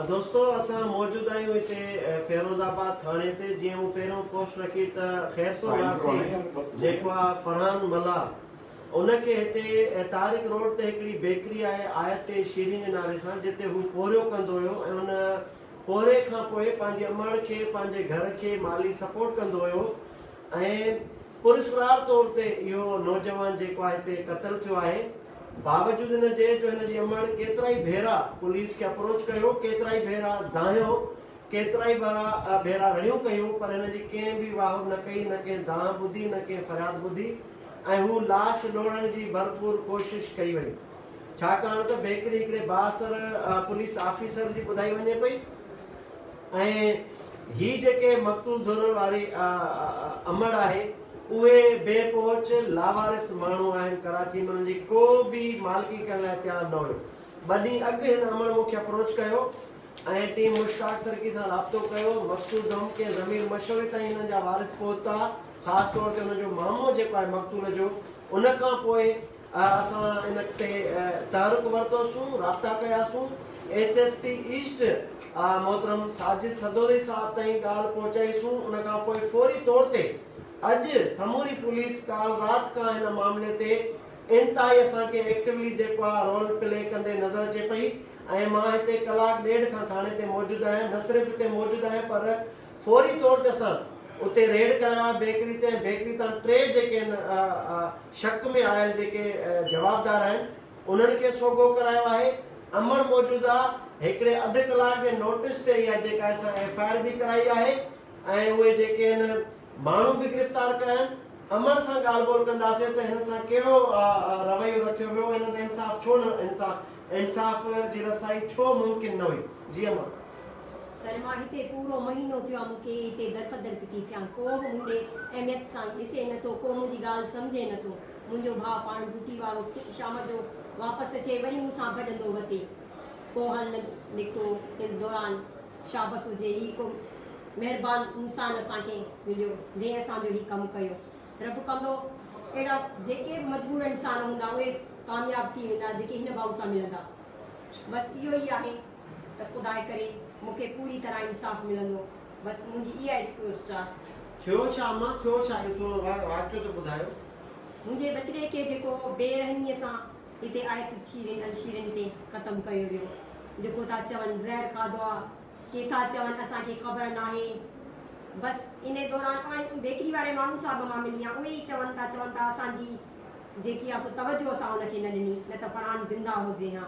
دوستو اسان موجود آهيون هتي فيروز آباد ٿاڻي تي جيئن مون پهريون پوسٽ رکي ته خيرپور واسي جيڪو آهي فرحان ملاح ان کي هتي طارق روڊ تي هڪڙي بيڪري آهي آيت تي شيرين جي نالي سان جتي هو پورهيو ڪندو هيو ۽ ان پورهي کانپوء پنهنجي امڙ کي پنهنجي گهر کي مالي سپورٽ ڪندو هيو ۽ پراسرار طور تي اهو نوجوان جيڪو آهي هتي قتل ٿيو آهي باوجود ان جي جو هن جي امڙ ڪيترائي ڀيرا پوليس کي اپروچ ڪيو ڪيترائي ڀيرا دانهيو ڪيترائي ڀيرا ڀيرا رڙيون ڪيون پر هن جي ڪنهن به واهه نه ڪئي نه ڪنهن دانهن ٻڌي نه ڪنهن فریاد ٻڌي ۽ هو لاش لوڙهڻ جي ڀرپور ڪوشش ڪئي وئي ڇاڪاڻ ته بيڪري هڪڙي بااثر پوليس آفيسر جي ٻڌائي وڃي پئي. ۽ هي جيڪي مقتول ڌر واري امڙ آهي اهي بي پهچ لاوارث ماڻهو آهن ڪراچي ۾ انهن جي ڪو به مالڪي ڪرڻ لاء تيار نه هيو ٻه ڏينهن اڳ هن امڙ مون کي اپروچ ڪيو ۽ ٽيم مشتاق سرڪي سان رابطو ڪيو مقتول ڌم ڪنهن ضمير مشوري تائين انهن جا وارث پهتا خاص طور تي انهن جو مامو جيڪو آهي مقتول جو ان کان پوء اسان ان تي تحرڪ ورتوسون، رابطا ڪياسون، ايس ايس پي ايسٽ محترم ساجد سدوزئي صاحب تائين ڳالهه پهچائيسون، ان کان پوء فوري طور تي اڄ سموري پوليس ڪالهه رات کان هن معاملي تي انتهائي اسان کي ايڪٽويلي جيڪو آهي رول پلي ڪندي نظر اچي پئي ۽ مان هتي ڪلاڪ ڏيڍ کان ٿاڻي تي موجود آهيان، نه صرف هتي موجود آهيان پر فوري طور تي اسان اتي ريڊ ڪرايو آهي بيڪري تي ۽ بيڪري تان ٽي جيڪي ان شڪ ۾ آيل جيڪي جوابدار آهن انهن کي سوگهو ڪرايو آهي امڙ موجوده هڪڙي اڌ ڪلاڪ جي نوٽس تي اها جيڪا اسان ايف آء آر به ڪرائي آهي ۽ اهي جيڪي ان ماڻهو به گرفتار ڪيا آهن امڙ سان ڳالهه ٻولهه ڪنداسين ته هن سان ڪهڙو رويو رکيو ويو هن سان انصاف ڇو نه انصاف جي رسائي ڇو ممڪن نه هئي جي امڙ. سلميٰ، هتي پورو مهينو ٿيو آ مون کي هتي درپدر پتي ٿيان ڪو به مون ڏي اهميت سان ڏسي نه ٿو ڪو منهنجي ڳالهه سمجهي نه ٿو منهنجو ڀاء پاڻ ڊوٽي وارو ٿي شام جو واپس اچي وري مون سان ڀڄندو وتي ڪو هل نه نڪتو ان دوران شابس هجي هي ڪو مهربان انسان اسان کي مليو جنهن اسان جو هي ڪم ڪيو رب ڪندو اهڙا جيڪي به مجبور انسان هوندا اهي ڪامياب ٿي ويندا جيڪي هن ڀاء سان ملندا بس اهو ئي آهي. ته خداء ڪري مون کي پوري طرح انصاف ملندو بس منهنجي اها ئي رڪويسٽ آ. ٿيو ڇا امان ٿيو ڇا اهو پورو واقعو ته ٻڌايو. منهنجي ٻچڙي کي جيڪو بي رحميء سان هتي آيت الشيرين الشيرين تي ختم ڪيو ويو جيڪو ٿا چون زهر کاڌو آ ڪي ٿا چون اسان کي خبر ناهي بس انهي دوران اوهين بيڪري واري ماڻهو صاحب مان ملي آ اهي ئي چون ٿا چون ٿا اسان جي جيڪي آ سو توجهه اسان ان کي نه ڏني نه ته فرحان زنده هجي ها.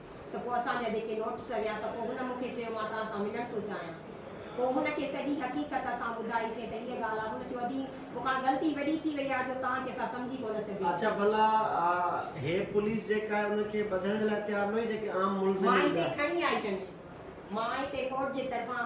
ته پوء اسان جا جيڪي نوٽس هيا ته پوء هن مون کي چيو مان توهان سان ملڻ ٿو چاهيان. پوء هن کي سڄي حقيقت اسان ٻڌائي سين ته هيء ڳالهه آهي. هن چيو ادي مون کان غلطي وڏي ٿي وئي آهي جو توهان کي سا سمجهي ڪونه سگهيو. اڇا ڀلا هيء پوليس جيڪا آهي ان کي ٻڌڻ جي لاء تيار نه هئي جيڪي عام ملزمين مان هتي کڻي آئي ٿن. مان هتي ڪورٽ جي طرفان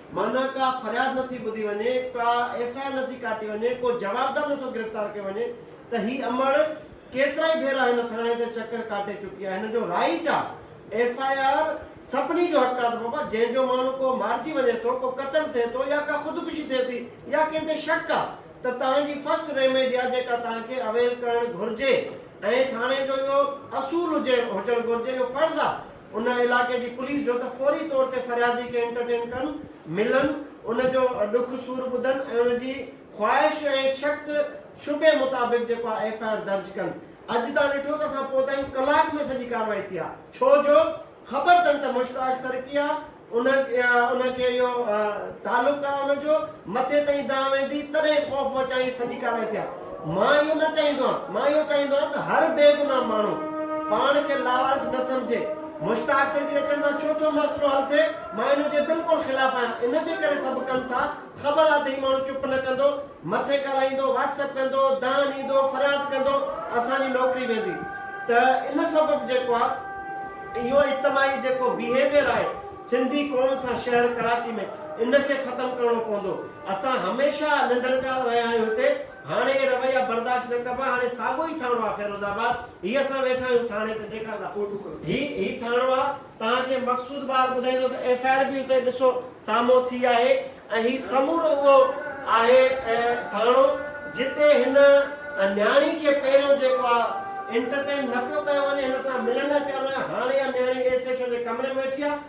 معنيٰ ڪا فرياد نه ٿي ٻڌي وڃي، ڪا ايف آء آر نه ٿي ڪاٽي وڃي، ڪو جوابدار نه ٿو گرفتار ڪيو وڃي ته هي امڙ ڪيترائي ڀيرا هن ٿاڻي تي چڪر ڪاٽي چڪي آهي، هن جو رائيٽ آ، ايف آء آر سڀني جو حق آ ته بابا جنهن جو ماڻهو ڪو مارجي وڃي ٿو، ڪو قتل ٿئي ٿو يا ڪا خودڪشي ٿئي ٿي يا ڪنهن تي شڪ آ ته توهان جي فرسٽ ريميڊي آ جيڪا توهان کي اويل ڪرڻ گهرجي ۽ ٿاڻي جو اهو اصول هجي هجڻ گهرجي اهو فرض آ. ان علائقي جي پوليس جو ته فوري طور تي فريادي کي انٽرٽين ڪن، ملن، ان جو ڏک سور ٻڌن ۽ ان جي خواهش ۽ شڪ شبهي مطابق جيڪو آهي ايف آء آر درج ڪن. اڄ تان ڏٺو ته اسان پهتا آهيون ڪلاڪ ۾ سڄي ڪارروائي ٿي آهي. ڇو جو خبر تن ته مشتاق سرڪي آهي. ان يا ان کي اهو تعلق آهي ان جو، مٿي تائين دانهن ويندي، تڏهن خوف وچائين سڄي ڪارائي ٿيا. مان اهو نه چاهيندو آهيان. مان اهو چاهيندو آهيان ته هر بيگناهه ماڻهو پاڻ کي لاوارث نه سمجهي. مشتاق سرڪي اچڻ سان ڇو ٿو مسئلو حل ٿئي؟ مان ان جي بلڪل خلاف آهيان. ان جي ڪري سڀ ڪن ٿا. خبر آ ته هي ماڻهو چپ نه ڪندو، مٿي ڳالهائيندو، واٽس ايپ ڪندو، دانهن ڏيندو، فرياد ڪندو، اسان جي نوڪري ويندي. ته ان سبب جيڪو آ اهو اجتماعي جيڪو بيهيويئر آهي سنڌي قوم سان شهر ڪراچي ۾ ان کي ختم ڪرڻو پوندو. اسان هميشه ننڌڻڪار رهيا آهيون هتي، هاڻي اهي رويا برداشت نه ڪبا، هاڻي ساڳو ئي ٿاڻو آ فيروز آباد، هي اسان ويٺا آهيون ٿاڻي ته ڏيکار ڏا. هي هي ٿاڻو آ. توهان کي مخصوص بار ٻڌائيندو ته ايف آء آر به اتي ڏسو سامهون ٿي آهي ۽ هي سمورو اهو آهي ٿاڻو جتي هن نياڻي کي پهريون جيڪو آهي انٽرٽين نه پيو ڪيو وڃي هن سان ملڻ لاء تيار نه هو هاڻي اها نياڻي ايس ايڇ او جي ڪمري ۾ ويٺي آهي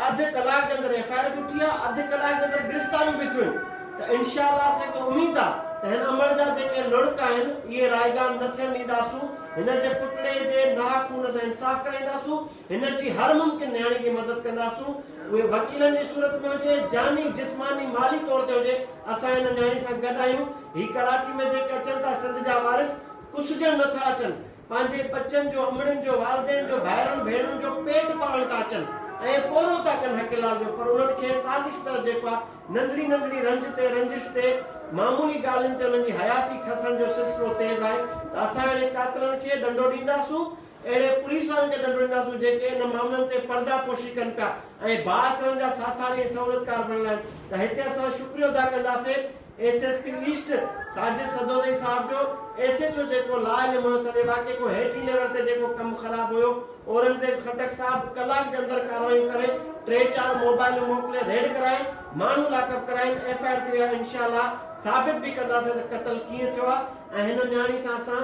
اڌ ڪلاڪ جي اندر ايف آء آر به اٿي آهي اڌ ڪلاڪ جي اندر گرفتاريون به ٿيون آهن ته انشاء الله اسان کي اميد آهي ته هن امڙ جا جيڪي لڙڪ آهن اهي رائگان نه ٿيڻ ڏينداسون هن جي پٽڙي جي ناحق خون سان انصاف ڪرائينداسون. هن جي هر ممڪن نياڻي جي مدد ڪنداسون، اهي وڪيلن جي صورت ۾ هجي، جاني، جسماني، مالي طور تي هجي، اسان هن نياڻي سان گڏ آهيون، هي ڪراچي ۾ جيڪي اچن ٿا سنڌ جا وارث ڪسجڻ نه ٿا اچن، پنهنجي ٻچن جو، امڙين جو، والدين جو، ڀائرن ڀيڻرن جو پيٽ پالڻ ٿا اچن ۽ پورو ٿا ڪن حق لال جو پر انهن کي سازش تحت جيڪو آ ننڍڙي ننڍڙي رنج تي رنجش تي معمولي ڳالهين تي انهن جي حياتي کسڻ جو سلسلو تيز آهي ته اسان اهڙي قاتلن کي ڏنڊو ڏينداسون اهڙي پوليس وارن کي ڏنڊ وجهنداسون جيڪي انهن معاملن تي پرده پوشي ڪن پيا ۽ بااثرن جا ساٿاري ۽ سهولتڪار بڻيل آهن ته هتي اسان شڪريو ادا ڪنداسين S S P East Sajid Sadozai صاحب جو ايس ايڇ او جيڪو لا علم هيو سڄي واقعي کان هيٺين ليول تي جيڪو ڪم خراب هيو اورنگزيب خٽڪ صاحب ڪلاڪ جي اندر ڪاروايون ڪري ٽي چار موبائلون موڪلي ريڊ ڪرائين ماڻهو لاڪ اپ ڪرائين ايف آئي آر ٿي ويا انشاء الله ثابت به ڪنداسين ته قتل ڪيئن ٿيو آهي ۽ هن نياڻي سان اسان